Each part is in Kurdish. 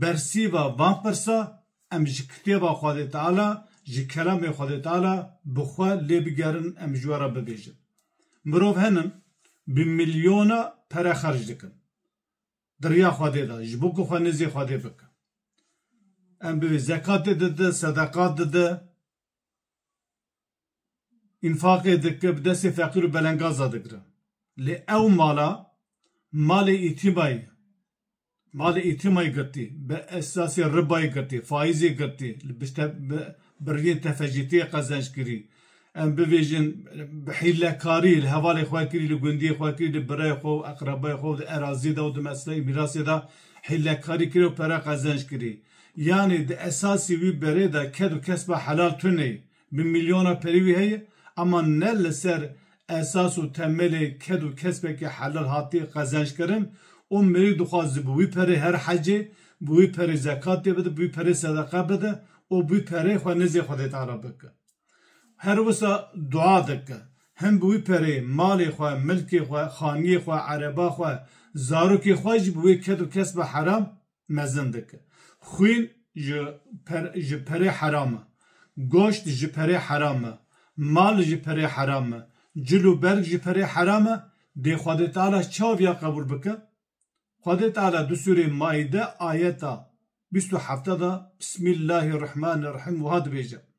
Bersîva van pirsa em ji kitêba Xwedê Teala, ji kelamê Xwedê Teala bi xwe lê bigerin em ji we re bibêjin. Mirov henin bi milyona pere xerc dikin di riya Xwedê de ji bo ku xwe nêzî Xwedê bike. Em bi vê zekatê dide, sedeqat dide. Înfaqê dike bi destê feqîr û belengaz de digire. Lê ew mala malê îtîmayê malê îtîmayê girtî, bi esasê ribayê girtî, faîzê girtî, bi riyên tefecîtiyê qezenc kirî, em bibêjin bi hîlekarî li hevalê xwe kirî, li gundiyê xwe kirî, li birayê xwe û eqrebayê xwe û di erazî de û di mesleî mîrasê de hîlekarî kirî û pere qezenc kirî. Yanî di esasî wî berê de ked û kesba helal tunê bi mîlyona perî wî heye ema ne li ser esas û temelê ked û kesbekî helal hatiye qezenckirin û mirî dixwaz ji bi wî perê her hecê, bi wî perê zekatê bide, bi wî perê sedeqe bide û bi wî perê xwe nizê Xwedê Teala bike. Her wisa dua dike. Hin bi wî perê malê xwe, milkê xwe, xaniyê xwe, ereba xwe, zarokê xwe jî bi wê ked û kesba heram, mezin dike. Xwîn ji per ji perê heram e. Goşt ji perê heram e. Mal ji perê heram e. Cil û berg ji perê heram e. Dê Xwedê Teala çawa viya qebûl bike? Xwedê Teala di sûrê Maîde ayeta bîst û hefte de Bismîllahî Rihmanî Rihîm wiha dibêje.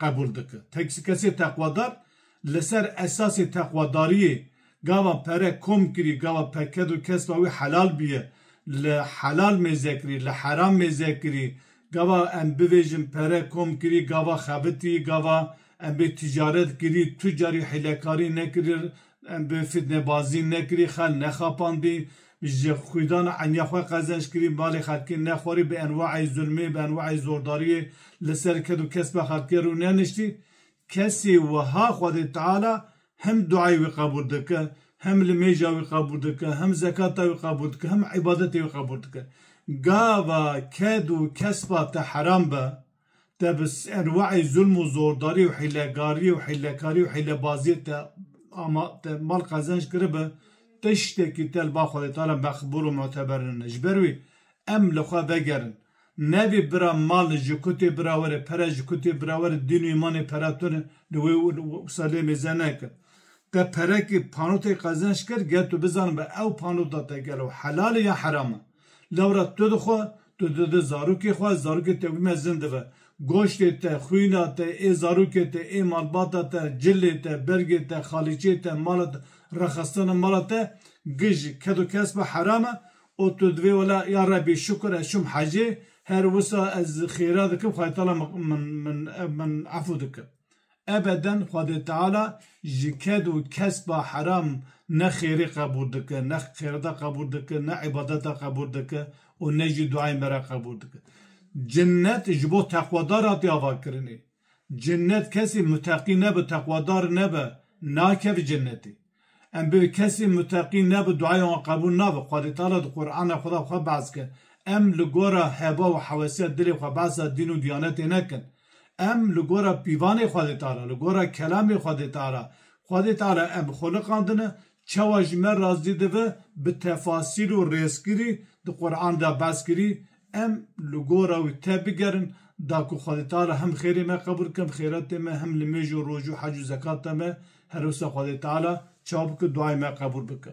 qebûl dike. Teksikesê teqwadar li ser esasê teqwadariyê gava pere kom kirî, gava peked û kesba wî helal bûye, li helal mêze kirî, li heram mêze kirî, gava em bivêjin pere kom kirî, gava xebitî, gava em bê ticaret kirî, tu carî hîlekarî nekirî, em bê fitnebazî nekirî, xel nexapandî, Ji xwîdana eniya xwe qezenç kirî malê xelkê nexwarî bi enwaê zulmê, bi enwaê zordariyê li ser ked û kespa xelkê rû neniştî. Kesê wiha Xwedê Teala hem duayê wî qebûl dike, hem limêja wî qebûl dike, hem zekata wî qebûl dike, hem îbadetê wî qebûl dike. Gava ked û kespa te heram be. te bi enwaî zulm û zordarî û hîlegarî û hîlekarî û hîlebaziyê te ama te mal qezenc kiribe, tiştekî te li ba Xwedê te re meqbûl û muteber nine. Ji ber wî em li xwe vegerin. Nebî bira malê ji ku tê bira we re, pere ji ku tê bira we re, dîn û îmanê pere to ne, li wê wisa lê mêze neke. Te perekê, panotekî qezenc kir, gel tu bizanin be ew panota te gelo helal e yan heram e. Lewra tu dixwe, tu dide zarokê xwe, zarokê te wî mezin dibe. Goştê te, xwîna te, ê zarokê te, ê malbata te, cilê te, bergê te, xalîçê te, mala te, rexistina mala te gi ji ked û kesba heram e û tu divê wela ya Rebî şukur ez çûm hecê, her wisa ez xêra dikim Xwedayetala min min min efû dike. Ebeden Xwedê Teala ji ked û kesba heram ne xêrê qebûl dike, ne xêreta qebûl dike, ne îbadeta qebûl dike û ne jî duayên me re qebûl dike. Cinnet ji bo teqwedar hatiye avakirinê. Cinnet kesê muteqî nebe, teqwedar nebe, nakeve cinnetê. Em bi kesê muteqî ne bi duaya wan qebûl nabe. Xwedê teala di Qur'ana xwe de xwe behs kir. Em li gora heba û hewesiya dilê xwe behsa dîn û diyanetê nekin. Em li gora pîvanê Xwedê teala, li gora kelamê Xwedê teala. Xwedê teala em xweliqandine, çawa ji me razî dibe bi tefasîl û rêzkirî di Qur'an de behs kirî, Em li gora wî tebigerin, da ku Xwedê Teala hem xêrê me qebûl bike, hem xêretê me, hem nimêj û roj û hec û zekata me, her wisa Xwedê Teala çawa bike duayê me qebûl bike.